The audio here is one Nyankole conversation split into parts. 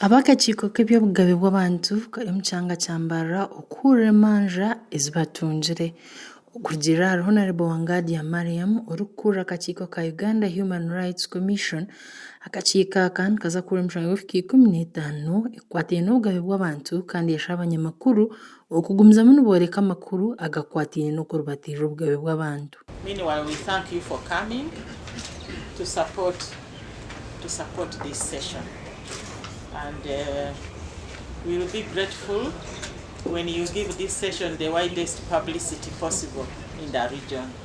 Ab'akakiiko k'eby'obugabe bw'abantu kari omu kyanga kya Mbarara okuhurira emanja ezi batungire. Okurugiirira ahari Honarebo Wangadya Mariam orikukurira akakiiko ka Uganda Human Rights Commission, akakiiko aka nikaza kuhurira emishango y'obuhika ikumi n'etaano ekwataine n'obugabe bw'abantu kandi eshaba abanyamakuru Okugumizamu nibooreka amakuru agakwataine n'okuribatiirira obugabe bw'abantu. Meanwhile we thank you for coming to support to support this session and we will be grateful when you give this session the widest publicity possible in the region.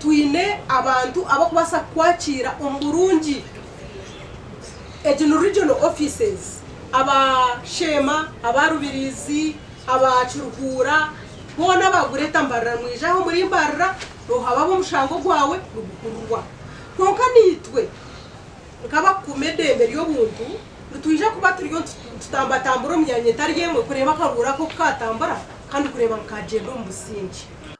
twine abantu abarikubaasa kukwakiira omu burungi. Egi ni Regional Offices. Aba Sheema, aba Rubiriizi, aba Kiruhuura boona baagureeta Mbarara mwije aha omuri Mbarara noohaba abo omushango gwawe niguhurirwa. Kwonka naitwe nk'abakuuma edeembe ry'obuntu nitwija kuba turiyo nitutambatambura omu myanya etari emwe kureeba akaruuru ako ku kaatambura kandi kureeba ngu kaagyenda omu busingye.